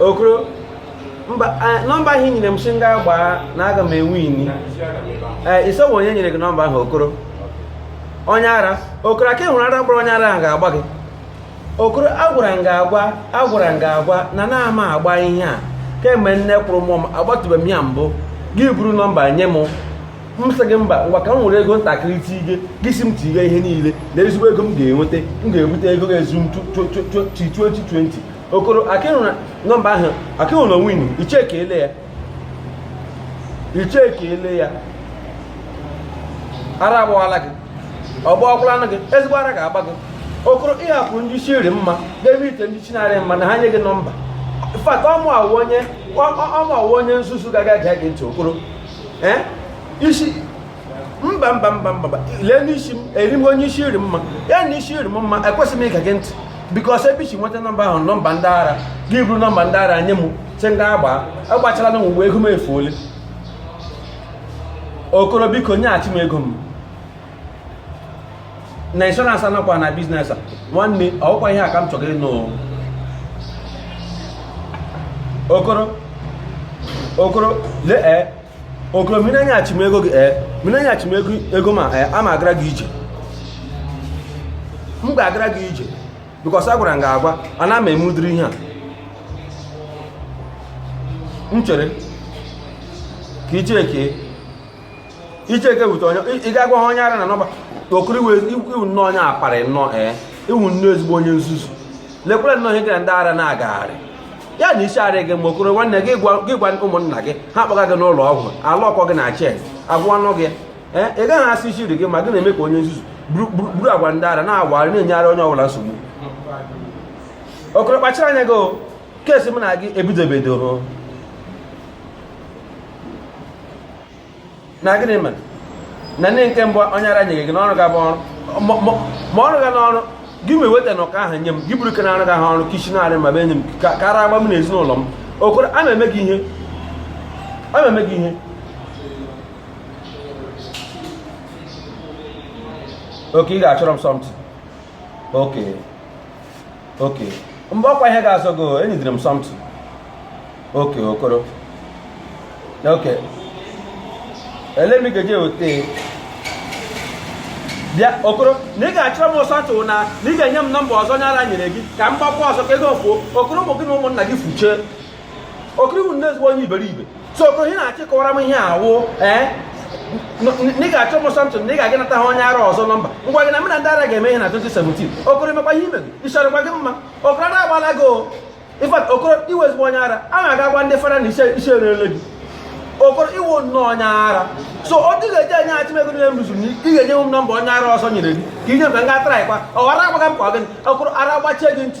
okoro mba nọmba ahụ i nyere m sị m gaa gbaa na aga m ewini ee ị sị ọ wụ onye nyere gị nọmba ahụ okoro onye ara okoro aka ịhụrụ ara gbara onye ara ahụ ga-agba gị okoro agwara m gị agwa agwara m gị agwa na anaghị m agba ihe a kemgbe nne kwụrụ mụọ m agbatụbeghị m ya mbụ gị buru nọmba nye m m sị gị mba ngwa ka m were ego ntakịrị tige gị sị m tige ihe niile na ezigbo ego m ga-enweta m ga-ebute ego ga-ezuru m 2020 okoro akịhụrụ nọmba ahụ akịhụrụ na onwe i chekiele ya i chekiele ya ara agbawala gị ọ gbawakwalanụ gị ezigbo ara ga-agba gị okoro ị hapụ ndị isi rị mma n'ebe ite ndị isi na-arị mma na ha nye gị nọmba fact ọ mụwa wụ onye ọ mụwa wụ onye nzuzu gara gee gị ntị okoro ị sị mba mba mba mba lee n'isi m eri m onye isi rị mma ya na isi rị m mma ekwesịghị m ige gị ntị because ebe i si nweta nọmba ahụ nọmba ndị ara gị buru nọmba ndị ara nye m sị m gaa gbaa agbachala na mgbe ego m efuole okoro biko nyeghachi m ego m na insurance anakwa na business a nwanne ọ kwa ihe a ka m chọrọ ịnụ okoro okoro lee eh, okoro ma ị na-enyeghachi m ego gị ee ma ị na-enyeghachi m ego m a ee ama agara gị ije m ga-agara gị ije because agwara m gị agwa anaghị m eme ụdịrị ihe a m chere ka icheke icheke wute onye ị ga-agwa ha onye ara na nọmba okoro ị wụ nnọọ onye apari nnọọ ee ị wụ nnọọ ezigbo onye nzuzu lekwere nnọọ ihe gị na ndị ara na-agagharị ya na isi arị gị mma okoro nwanne gị gwa ụmụnna gị ha kpọga gị n'ụlọ ọgwụ ala ọkọ gị na chain a gwọọnụ gị ee ị gaghị asị isi rị gị mma gị na-eme ka onye nzuzu buru agwa ndị ara na-awagharị na-enyegharị onye ọbụla nsogbu okoro kpachara anya gị case mụ na gị ebido ebido na gịnị mere na ndị nke mbụ onye ara nyere gị n'ọrụ ga-abụ ọrụ ma ọrụ ga n'ọrụ gị ma eweta na ụka ahụ nye m gị buru ke na-arụ gị ahụ ọrụ ke isi na-arị mma bịa enye m ka ara gbaa mụ na ezinụlọ m okoro a na-eme gị ihe a na-eme gị ihe ok ị ga-achọrọ m something ok ok mgbe ọkwa ihe ga-azọ gị enyidere m something ok okoro ok lee m ga-eje wete bịa okoro na ị ga-achọrọ m something na na ị ga-enye m nọmba ọzọ onye ara nyere gị ka m gbakwa ọzọ ka ego fuo okoro ụmụ gị na ụmụnna gị fuchee okoro ị wụ nnọọ ezigbo onye iberibe so okoro ihe na-achọ ịkọwara m ihe a wụ ee na ị ga-achọ m something na ị ga-aga nata ha onye ara ọzọ nọmba ngwa gị na mụ na ndị ara ga-eme ihe na 2017 okoro emekwa ihe ime gị ịchọrọkwa gị mma okoro ara agbala gị o in fact okoro ị wụ ezigbo onye ara a na-aga gwa ndị fada na isi erele gị okoro ị wụ nnọọ onye ara so ọ dị ga-eji enye achị m ego niile m rụzuru na ị ga-enye m nọmba onye ara ọzọ nyere gị ka i nye m ka m ga traịkwa ọ ghara agbaga m kwa gịnị okoro ara gbachie gị ntị